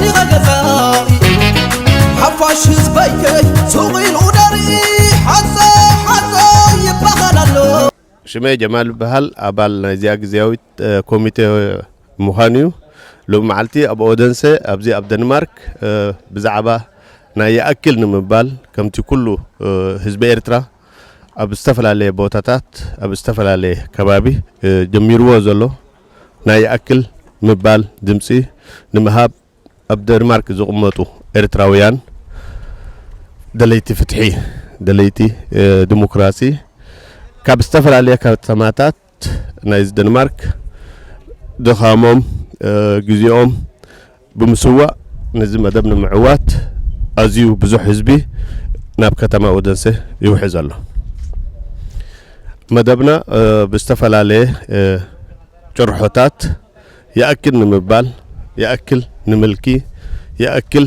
መን ኢኸ ገዛኢ ሓፋሽ ህዝበይ ሱቕ ኢሉ ደርኢ ሓፀ ሓፀ ይበሃል ኣሎ ሽመይ ጀማል ይበሃል ኣባል ናይዚኣ ግዝያዊት ኮሚቴ ምዃን እዩ ሎሚ መዓልቲ ኣብ ኦደንሰ ኣብዚ ኣብ ደንማርክ ብዛዕባ ናይ ይኣክል ንምባል ከምቲ ኩሉ ህዝቢ ኤርትራ ኣብ ዝተፈላለየ ቦታታት ኣብ ዝተፈላለየ ከባቢ ጀሚርዎ ዘሎ ናይ ይኣክል ምባል ድምጺ ንምሃብ ኣብ ደንማርክ ዝቕመጡ ኤርትራውያን ደለይቲ ፍትሒ ደለይቲ ዲሞክራሲ ካብ ዝተፈላለየ ከተማታት ናይዚ ደንማርክ ድኻሞም ግዜኦም ብምስዋእ ነዚ መደብ ንምዕዋት ኣዝዩ ብዙሕ ህዝቢ ናብ ከተማ ኦደንሰ ይውሕዝ ኣሎ። መደብና ብዝተፈላለየ ጭርሖታት ይኣክል ንምባል፣ ይኣክል ንምልኪ፣ ይኣክል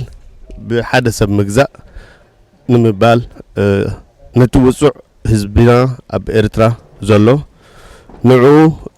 ብሓደ ሰብ ምግዛእ ንምባል ነቲ ውጹዕ ህዝብና ኣብ ኤርትራ ዘሎ ንዕኡ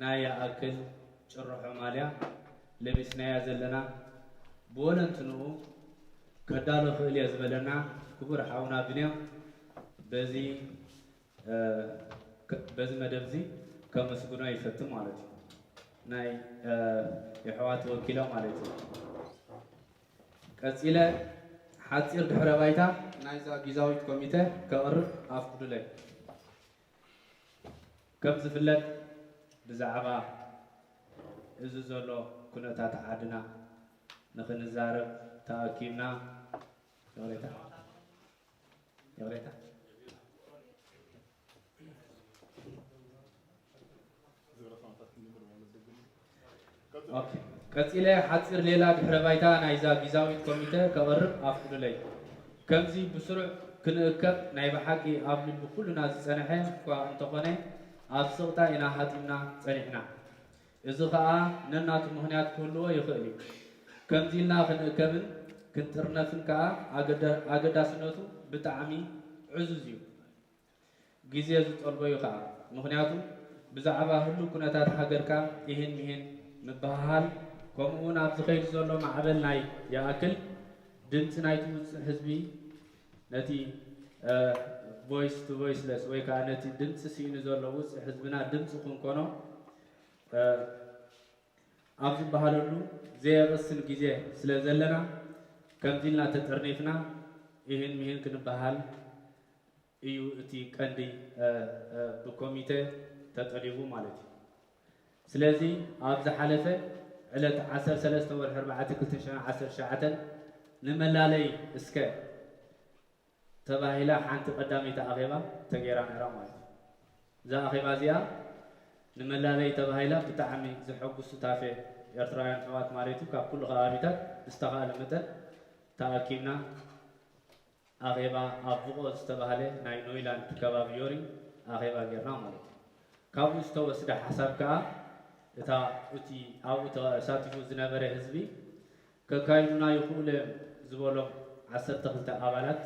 ናይ ይኣክል ጭርሖ ማልያ ለቢስናያ ዘለና ብወለንትንኡ ከዳሉ እኽእል እየ ዝበለና ክቡር ሓውና ብንያም በዚ በዚ መደብ እዚ ከመስግኖ ይፈቱ ማለት እዩ ናይ የሕዋት ወኪሎም ማለት እዩ ቀጺለ ሓጺር ድሕረ ባይታ ናይዛ ጊዛዊት ኮሚተ ከቕርብ ኣፍቅዱለይ። ከም ዝፍለጥ ብዛዕባ እዚ ዘሎ ኩነታት ዓድና ንክንዛረብ ተኣኪብና ይቕሬታ ይቕሬታ ቀጺለ ሓጺር ሌላ ድሕረ ባይታ ናይዛ ጊዛዊት ኮሚተ ከቕርብ ኣፍቅዱለይ። ከምዚ ብስሩዕ ክንእከብ ናይ ብሓቂ ኣብ ልቢ ኩሉና ዝጸነሐ እኳ እንተኾነ ኣብ ስቕታ ኢና ሃጢምና ጸኒሕና። እዚ ከኣ ነናቱ ምኽንያት ክህልዎ ይኽእል እዩ። ከምዚ ኢልና ክንእከብን ክንጥርነፍን ከኣ ኣገዳስነቱ ብጣዕሚ ዕዙዝ እዩ። ግዜ ዝጠልቦ'ዩ ከኣ። ምኽንያቱ ብዛዕባ ህሉው ኩነታት ሃገርካ ኢሂን ምሂን ምብህሃል ከምኡ'ውን ኣብ ዝኸይድ ዘሎ ማዕበል ናይ ይኣክል ድምጺ ናይቲ ውጹዕ ህዝቢ ነቲ Voice to Voiceless ወይ ከኣ ነቲ ድምጺ ስኢኑ ዘሎ ውጹዕ ህዝብና ድምጺ ክንኮኖ ኣብ ዝበሃለሉ ዘየቕስን ግዜ ስለ ዘለና ከምዚ ኢልና ተጠርኒፍና ኢሂን ምሂን ክንብሃል እዩ እቲ ቀንዲ ብኮሚተ ተጠሊቡ ማለት እዩ። ስለዚ ኣብ ዝሓለፈ ዕለት ዓሰርተ ሰለስተ ወርሒ ኣርባዕተ ክልተ ሽሕን ዓሰርተ ትሽዓተን ንመላለይ እስከ ተባሂላ ሓንቲ ቀዳመይቲ ኣኼባ ተገይራ ነይራ ማለት እዩ። እዛ ኣኼባ እዚኣ ንመላለይ ተባሂላ ብጣዕሚ ዘሐጉስ ሱታፌ ኤርትራውያን ኣሕዋት ማለት እዩ ካብ ኩሉ ከባቢታት ብዝተኻእለ መጠን ተኣኪብና ኣኼባ ኣብ ቭቆ ዝተባህለ ናይ ኖይላንድ ከባቢ ዮሪ ኣኼባ ጌርና ማለት እዩ። ካብኡ ዝተወስደ ሓሳብ ከኣ እታ እቲ ኣብኡ ተሳቲፉ ዝነበረ ህዝቢ ከካይዱና ይኽእሉ እዮም ዝበሎም ዓሰርተ ክልተ ኣባላት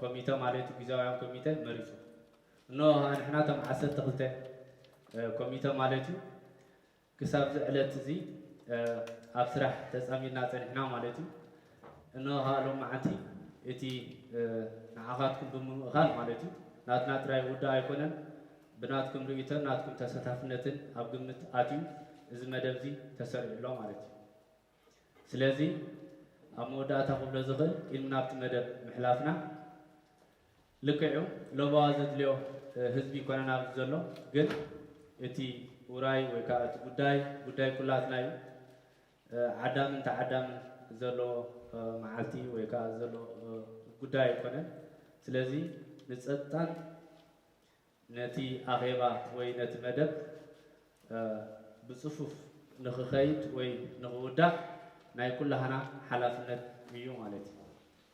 ኮሚተ ማለት ጊዜያውያን ኮሚተ መሪጹ። እነሆ ከኣ ንሕና እቶም ዓሰርተ ክልተ ኮሚተ ማለት እዩ ክሳብዚ ዕለት እዚ ኣብ ስራሕ ተጻሚድና ጸኒሕና ማለት እዩ። እነሆ ከኣ ሎምዓንቲ እቲ ንዓኻትኩም ብምምእኻል ማለት እዩ ናትና ጥራይ ውዳእ ኣይኮነን ብናትኩም ርእይቶን ናትኩም ተሳታፍነትን ኣብ ግምት ኣትዩ እዚ መደብ እዚ ተሰሪዑ ኣሎ ማለት እዩ። ስለዚ ኣብ መወዳእታ ክብሎ ዝኽእል ኢሉ ናብቲ መደብ ምሕላፍና ልክዕ እዩ ለበዋ ዘድልዮ ህዝቢ ይኮነን ኣብዚ ዘሎ ግን እቲ ውራይ ወይ ከዓ እቲ ጉዳይ ጉዳይ ኩላትና እዩ ዓዳምን ተዓዳምን ዘሎ መዓልቲ ወይ ከዓ ዘሎ ጉዳይ ኣይኮነን ስለዚ ንፀጥታን ነቲ ኣኼባ ወይ ነቲ መደብ ብጽፉፍ ንኽኸይድ ወይ ንኽውዳእ ናይ ኩላህና ሓላፍነት እዩ ማለት እዩ።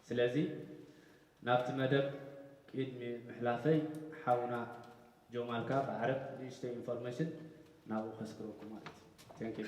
ስለዚ ናብቲ መደብ ቂድሚ ምሕላፈይ ሓውና ጆማልካ ብዓረብ ንእሽተይ ኢንፎርመሽን ናብኡ ከስግረኩም ማለት እዩ። Thank you.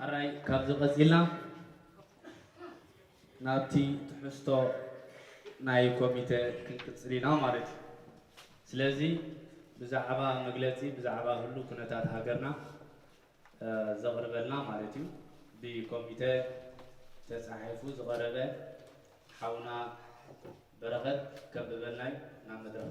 ሕራይ ካብዚ ቀጺልና ናብቲ ትሕዝቶ ናይ ኮሚተ ክንቅጽል ኢና ማለት እዩ። ስለዚ ብዛዕባ መግለጺ ብዛዕባ ህሉ ኩነታት ሃገርና ዘቕርበልና ማለት እዩ ብኮሚተ ተጻሒፉ ዝቐረበ ሓውና በረኸት ከንብበልና እዩ ናብ መድረኽ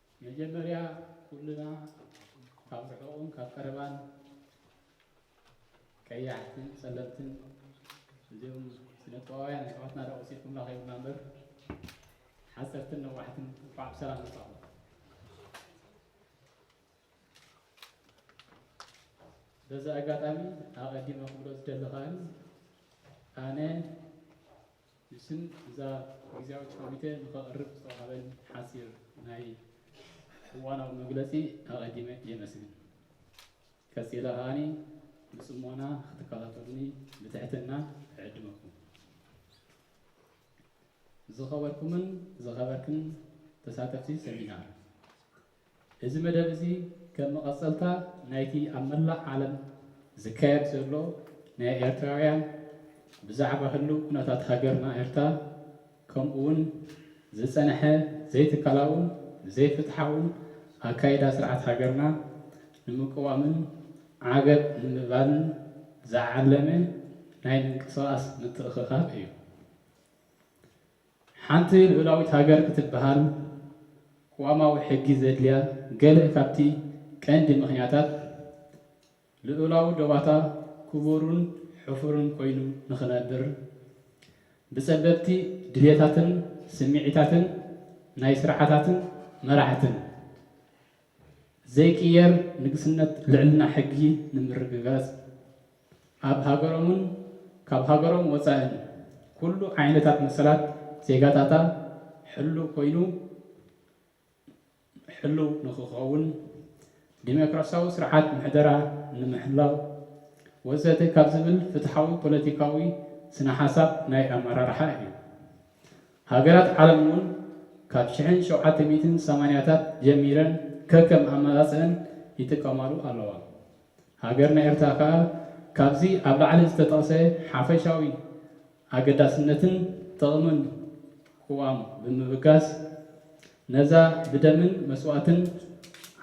መጀመርያ ኩልና ካብ ርሑቕን ካብ ቀረባን ቀያሕትን ፀለምትን እዚኦም ስነጥበባውያን ኣሕዋትና ዶ ወሲድኩምና ከይብልና እምበር ሓፀርትን ነዋሕትን እንኳዕ ብሰላም መፃኹም። በዚ ኣጋጣሚ ኣቐዲመ ክብሎ ዝደሊ ከኣ ኣነ ንስን እዛ ግዝያዊት ኮሚቴ ንኸቕርብ ዝተዋሃበን ሓጺር ናይ እዋናዊ መግለጺ ኣቐዲመ የመስግን። ቀጺለ ከኣ ብጽሞና ክትከታተሉኒ ብትሕትና እዕድመኩም። ዝኸበርኩምን ዝኸበርክን ተሳተፍቲ ሰሚናር፣ እዚ መደብ እዚ ከም መቐጸልታ ናይቲ ኣብ መላእ ዓለም ዝካየድ ዘሎ ናይ ኤርትራውያን ብዛዕባ ህሉው ኩነታት ሃገርና ኤርትራ ከምኡውን ዝጸንሐ ዘይትካላውን ዘይፍትሓውን ኣካይዳ ስርዓት ሃገርና ንምቅዋምን ዓገብ ንምባልን ዝዓለመ ናይ ምንቅስቓስ ምትእኽኻብ እዩ። ሓንቲ ልኡላዊት ሃገር ክትበሃል ቅዋማዊ ሕጊ ዘድልያ ገለ ካብቲ ቀንዲ ምኽንያታት ልኡላዊ ዶባታ ክቡርን ሕፉርን ኮይኑ ንኽነብር ብጸበብቲ ድሌታትን ስምዒታትን ናይ ስርዓታትን መራሕትን ዘይቅየር ንግስነት ልዕልና ሕጊ ንምርግጋጽ፣ ኣብ ሃገሮምን ካብ ሃገሮም ወጻእን ኩሉ ዓይነታት መሰላት ዜጋታታ ሕሉው ኮይኑ ሕሉው ንክኸውን፣ ዲሞክራሲያዊ ስርዓት ምሕደራ ንምሕላው ወዘተ ካብ ዝብል ፍትሓዊ ፖለቲካዊ ስነ-ሓሳብ ናይ ኣመራርሓ እዩ። ሃገራት ዓለም እውን ካብ ሽሕን ሸውዓተ ሚእትን ሰማንያታት ጀሚረን ከከም ኣመጻጽእን ይጥቀማሉ ኣለዋ። ሃገርና ኤርትራ ከኣ ካብዚ ኣብ ላዕሊ ዝተጠቕሰ ሓፈሻዊ ኣገዳስነትን ጥቕምን ቅዋም ብምብጋስ ነዛ ብደምን መስዋእትን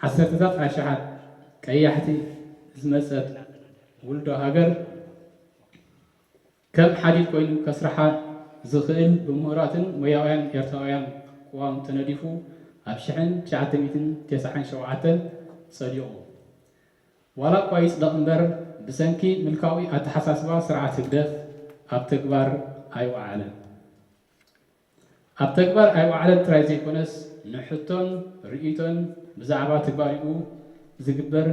ዓሰርተታት ኣሽሓት ቀያሕቲ ዝመጸት ውልዶ ሃገር ከም ሓዲድ ኮይኑ ከስርሓ ዝኽእል ብሙሁራትን ሞያውያን ኤርትራውያን ቅዋም ተነዲፉ ኣብ ሽሕን ትሽዓተ ሚእትን ተስዓን ሸውዓተን ጸዲቑ። ዋላኳ ይጽደቕ እምበር ብሰንኪ ምልካዊ ኣተሓሳስባ ስርዓት ህግደፍ ኣብ ተግባር ኣይወዓለን። ኣብ ተግባር ኣይወዓለን ጥራይ ዘይኮነስ ንሕቶን ርእይቶን ብዛዕባ ትግባሬኡ ዝግበር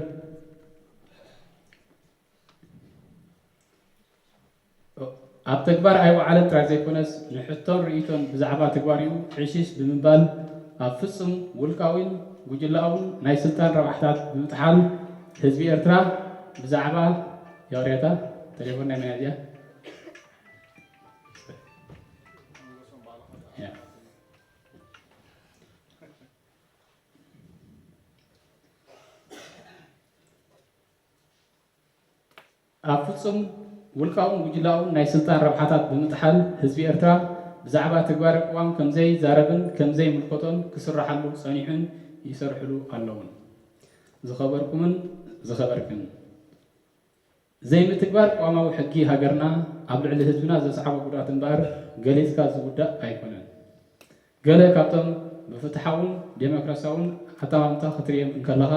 ኣብ ተግባር ኣይወዓለን ጥራይ ዘይኮነስ ንሕቶን ርእይቶን ብዛዕባ ትግባሬኡ ዕሽሽ ብምባል ኣብ ፍጹም ውልቃዊን ጉጅለኣውን ናይ ስልጣን ረብሓታት ብምጥሓል ህዝቢ ኤርትራ ብዛዕባ የዋርያታ ተሌፎን ናይ መን እያ እዚኣ ኣብ ፍጹም ውልቃውን ጉጅላውን ናይ ስልጣን ረብሓታት ብምጥሓል ህዝቢ ኤርትራ ብዛዕባ ተግባሪ ቅዋም ከምዘይ ዛረብን ከምዘይ ምልከቶን ክስራሓሉ ጸኒሑን ይሰርሕሉ ኣለውን። ዝኸበርኩምን ዝኸበርክን፣ ዘይ ምትግባር ቅዋማዊ ሕጊ ሃገርና ኣብ ልዕሊ ህዝብና ዘስዓቦ ጉድኣት እምበኣር ገሊጽካ ዝውዳእ ኣይኮነን። ገለ ካብቶም ብፍትሓውን ደሞክራሲያውን ኣጠማምታ ክትርእዮም እንከለኻ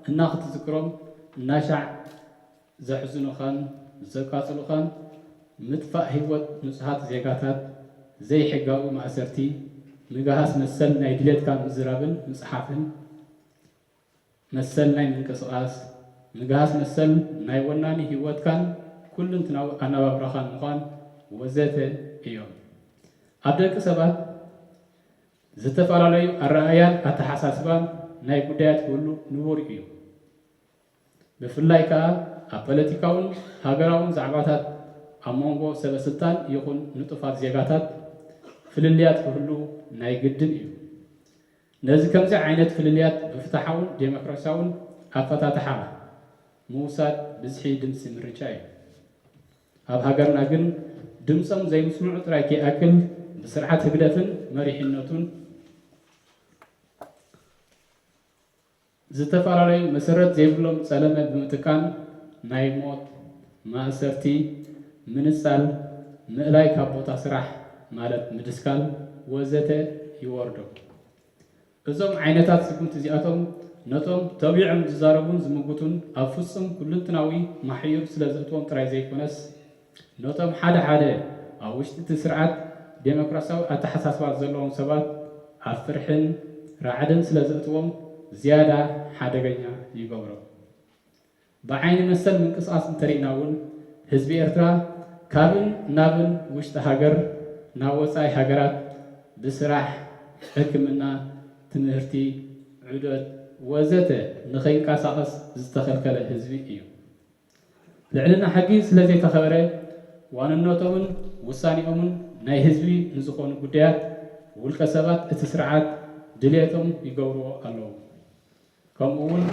እና ክትዝክሮም እናሻዕ ዘሕዝኑኻን ዘቃጽሉኻን ምጥፋእ ህይወት ንጹሃት ዜጋታት፣ ዘይሕጋዊ ማእሰርቲ፣ ምግሃስ መሰል ናይ ድሌትካ ምዝራብን ምጽሓፍን፣ መሰል ናይ ምንቅስቓስ፣ ምግሃስ መሰል ናይ ወናኒ ህይወትካን ኩሉንትናዊ ኣነባብራኻን ምዃን ወዘተ እዮም። ኣብ ደቂ ሰባት ዝተፈላለዩ ኣረኣእያን ኣተሓሳስባን ናይ ጉዳያት ክህሉ ንቡር እዩ። ብፍላይ ከኣ ኣብ ፓለቲካውን ሃገራውን ዛዕባታት ኣብ መንጎ ሰበ ስልጣን ይኹን ንጡፋት ዜጋታት ፍልልያት ክህሉ ናይ ግድን እዩ። ነዚ ከምዚ ዓይነት ፍልልያት ብፍትሓውን ዴሞክራሲያውን ኣፈታትሓ ምውሳድ ብዝሒ ድምጺ ምርጫ እዩ። ኣብ ሃገርና ግን ድምጾም ዘይምስምዑ ጥራይ ከይኣክል ብስርዓት ህግደፍን መሪሕነቱን፣ ዝተፈላለዩ መሰረት ዘይብሎም ጸለመ ብምጥቃም ናይ ሞት፣ ማእሰርቲ፣ ምንጻል፣ ምእላይ ካብ ቦታ ስራሕ ማለት ምድስካል ወዘተ ይወርዶም። እዞም ዓይነታት ስጉምቲ እዚኣቶም ነቶም ተቢዖም ዝዛረቡን ዝምጉቱን ኣብ ፍጹም ኩሉንትናዊ ማሕዩር ስለዘእትዎም ጥራይ ዘይኮነስ፣ ነቶም ሓደ ሓደ ኣብ ውሽጢ እቲ ስርዓት ደሞክራሲያዊ ኣተሓሳስባ ዘለዎም ሰባት ኣብ ፍርሕን ራዕድን ስለዘእትዎም ዝያዳ ሓደገኛ ይገብሮም። ብዓይኒ መሰል ምንቅስቓስ እንተሪእና እውን ህዝቢ ኤርትራ ካብን ናብን ውሽጢ ሃገር ናብ ወጻኢ ሃገራት ብስራሕ፣ ሕክምና፣ ትምህርቲ፣ ዑደት ወዘተ ንከይንቀሳቐስ ዝተኸልከለ ህዝቢ እዩ። ልዕልና ሕጊ ስለዘይተኸበረ ዋንነቶምን ውሳኔኦምን ናይ ህዝቢ ንዝኾኑ ጉዳያት ውልቀ ሰባት እቲ ስርዓት ድልየቶም ይገብርዎ ኣለዉ። ከምኡ እውን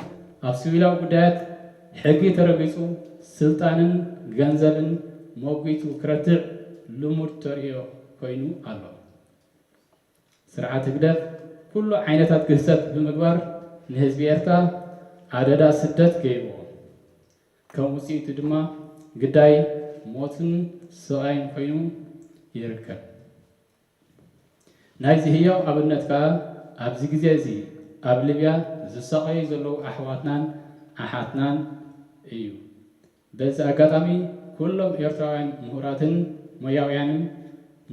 ኣብ ስቪላዊ ጉዳያት ሕጊ ተረጊፁ ስልጣንን ገንዘብን ሞጒቱ ክረትዕ ልሙድ ተርእዮ ኮይኑ ኣሎ። ስርዓት ህግደፍ ኩሉ ዓይነታት ግህሰት ብምግባር ንህዝቢ ኤርትራ ኣደዳ ስደት ገይርዎ። ከም ውጽኢቱ ድማ ግዳይ ሞትን ስቓይን ኮይኑ ይርከብ። ናይዚ ህያው ኣብነት ከኣ ኣብዚ ግዜ እዚ ኣብ ልብያ ዝሳቐዩ ዘለዉ ኣሕዋትናን ኣሓትናን እዩ። በዚ ኣጋጣሚ ኩሎም ኤርትራውያን ምሁራትን ሞያውያንን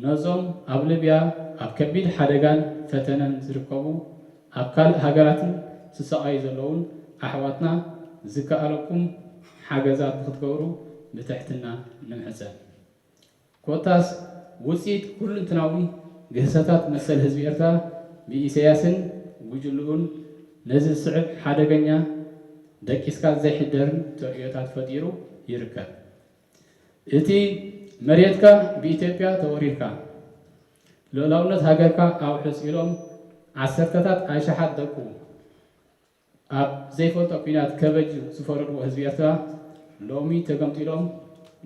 ነዞም ኣብ ልብያ ኣብ ከቢድ ሓደጋን ፈተነን ዝርከቡ ኣብ ካልእ ሃገራትን ዝሳቐዩ ዘለዉን ኣሕዋትና ዝከኣለኩም ሓገዛት ንክትገብሩ ብትሕትና ንምሕጸን። ኮታስ ውጽኢት ኩሉንትናዊ ግህሰታት መሰል ህዝቢ ኤርትራ ብኢሰያስን ጉጅልኡን ነዚ ዝስዕብ ሓደገኛ ደቂስካ ዘይሕደርን ተርእዮታት ፈጢሩ ይርከብ። እቲ መሬትካ ብኢትዮጵያ ተወሪርካ፣ ልኡላውነት ሃገርካ ኣውሕስ ኢሎም ዓሰርተታት ኣሽሓት ደቁ፣ ኣብ ዘይፈልጦ ኲናት ከበጁ ዝፈረድዎ ህዝቢ ኤርትራ ሎሚ ተገምጢሎም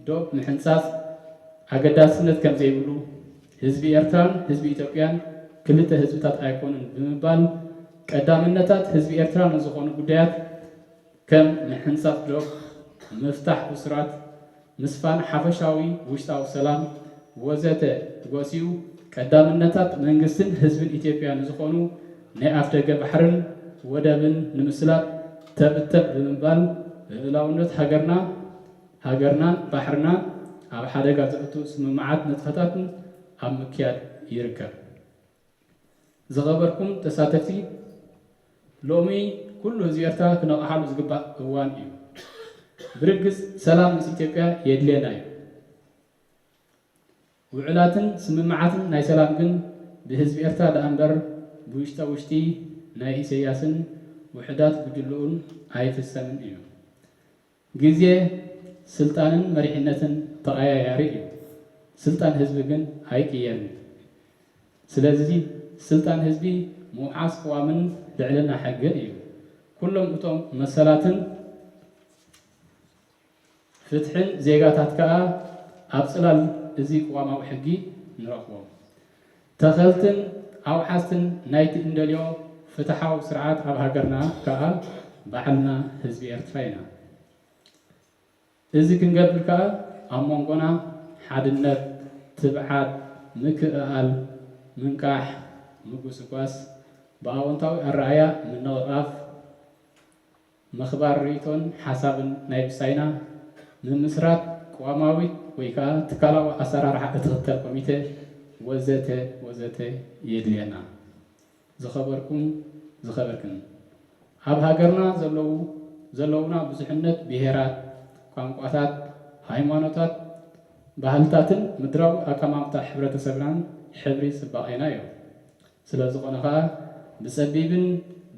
ዶብ ምሕንጻጽ ኣገዳስነት ከምዘይብሉ፣ ህዝቢ ኤርትራን ህዝቢ ኢትዮጵያን ክልተ ህዝብታት ኣይኮኑን ብምባል ቀዳምነታት ህዝቢ ኤርትራ ንዝኾኑ ጉዳያት ከም ምሕንጻጽ ዶብ፣ ምፍታሕ እሱራት፣ ምስፋን ሓፈሻዊ ውሽጣዊ ሰላም ወዘተ ጎሲዩ ቀዳምነታት መንግስትን ህዝብን ኢትዮጵያ ንዝኾኑ ናይ ኣፍደገ ባሕርን ወደብን ንምስላጥ ተብ ተብ ብምባል ልኡላውነት ሃገርና ሃገርናን ባሕርናን ኣብ ሓደጋ ዘእቱ ስምምዓትን ንጥፈታትን ኣብ ምክያድ ይርከብ። ዝኸበርኩም ተሳተፍቲ ሎሚ ኩሉ ህዝቢ ኤርትራ ክነቕሓሉ ዝግባእ እዋን እዩ። ብርግጽ ሰላም ምስ ኢትዮጵያ የድልየና እዩ። ውዕላትን ስምምዓትን ናይ ሰላም ግን ብህዝቢ ኤርትራ ደኣምበር ብውሽጣ ውሽጢ ናይ ኢሰያስን ውሑዳት ጉጅልኡን ኣይፍሰምን እዩ። ግዜ፣ ስልጣንን መሪሕነትን ተቐያያሪ እዩ። ስልጣን ህዝቢ ግን ኣይቅየርን። ስለዚ ስልጣን ህዝቢ ምውሓስ ቅዋምን ልዕልና ሕግን እዩ። ኩሎም እቶም መሰላትን ፍትሕን ዜጋታት ከኣ ኣብ ጽላል እዚ ቅዋማዊ ሕጊ ንረኽቦም። ተኸልትን ኣውሓስትን ናይቲ እንደልዮ ፍትሓዊ ስርዓት ኣብ ሃገርና ከኣ ባዕልና ህዝቢ ኤርትራ ኢና። እዚ ክንገብር ከኣ ኣብ መንጎና ሓድነት፣ ትብዓት፣ ምክእኣል፣ ምንቃሕ፣ ምጉስጓስ፣ ብኣወንታዊ ኣረኣእያ ምንቕቓፍ፣ ምኽባር ርእይቶን ሓሳብን ናይ ብጻይና፣ ምምስራት ቅዋማዊት ወይ ከኣ ትካላዊ ኣሰራርሓ እትኽተል ኮሚቴ፣ ወዘተ ወዘተ የድልየና። ዝኸበርኩም ዝኸበርክን፣ ኣብ ሃገርና ዘለዉ ዘለዉና ብዙሕነት ብሄራት፣ ቋንቋታት፣ ሃይማኖታት፣ ባህልታትን ምድራዊ ኣቀማምጣ ሕብረተሰብናን ሕብሪ ጽባቄና እዮም። ስለዝኾነ ከኣ ብጸቢብን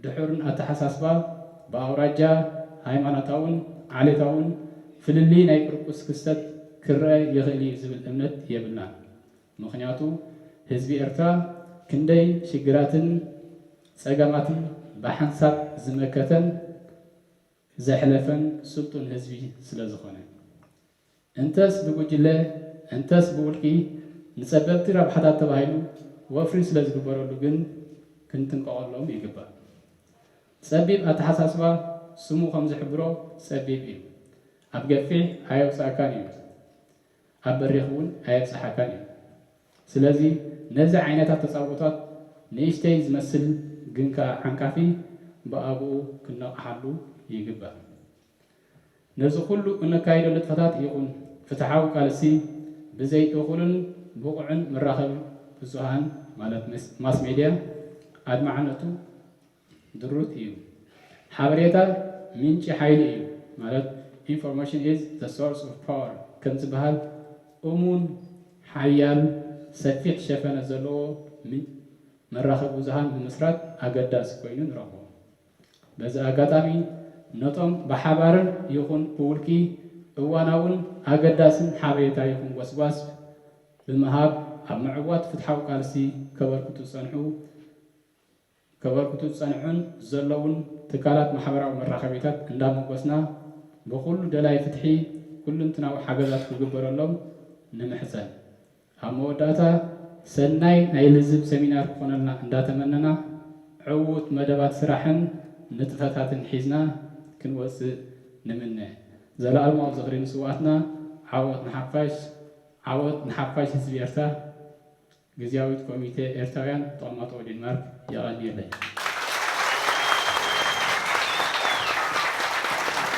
ድሑርን ኣተሓሳስባ ብኣውራጃ፣ ሃይማኖታውን ዓሌታውን ፍልልይ ናይ ቁርቁስ ክስተት ክረኣ ይኽእል እዩ ዝብል እምነት የብልናን። ምኽንያቱ ህዝቢ ኤርትራ ክንደይ ሽግራትን ጸገማትን ብሓንሳብ ዝመከተን ዘሕለፈን ስልጡን ህዝቢ ስለዝኾነ። እንተስ ብጉጅለ እንተስ ብውልቂ ንጸበብቲ ረብሓታት ተባሂሉ ወፍሪ ስለ ዝግበረሉ ግን ክንጥንቀቐሎም ይግባእ። ጸቢብ ኣተሓሳስባ ስሙ ከም ዝሕብሮ ጸቢብ እዩ። ኣብ ገፊሕ ኣየውጽኣካን እዩ፣ ኣብ በሪኽ እውን ኣየብጽሓካን እዩ። ስለዚ ነዚ ዓይነት ኣተጻብኦታት ንእሽተይ ዝመስል ግን ከኣ ዓንቃፊ ብኣግኡ ክንነቕሓሉ ይግባእ። ነዚ ኩሉ እነካይዶ ንጥፈታት ይኹን ፍትሓዊ ቃልሲ ብዘይ እኹልን ብቑዕን መራኸቢ ብዙሃን ማለት ማስ ሜድያ ኣድማዕነቱ ድሩት እዩ። ሓበሬታ ምንጪ ሓይሊ እዩ ማለት Information is the source of power ከምዝበሃል እሙን፣ ሓያል፣ ሰፊሕ ሸፈነ ዘለዎ መራኸቢ ብዙሃን ምምስራት ኣገዳሲ ኮይኑ ንረኽቦ። በዚ ኣጋጣሚ ነቶም ብሓባርን ይኹን ብውልቂ እዋናውን ኣገዳስን ሓበሬታ ይኹን ጎስጓስ ብምሃብ ኣብ ምዕዋት ፍትሓዊ ቃልሲ ከበርክቱ ዝጸንሑ ከበርክቱ ዝጸንሑን ዘለውን ትካላት ማሕበራዊ መራኸቢታት እንዳሞጎስና ብኹሉ ደላይ ፍትሒ ኩሉንትናዊ ሓገዛት ክግበረሎም ንምሕጸን። ኣብ መወዳእታ ሰናይ ናይ ልዝብ ሰሚናር ክኾነልና እንዳተመነና ዕዉት መደባት ስራሕን ንጥፈታትን ሒዝና ክንወጽእ ንምነ። ዘላኣለማዊ ዝኽሪ ንስውኣትና ዓወት ንሓፋሽ ዓወት ንሓፋሽ ህዝቢ ኤርትራ ግዝያዊት ኮሚቴ ኤርትራውያን ተቐማጦ ዴንማርክ የቐንየለይ።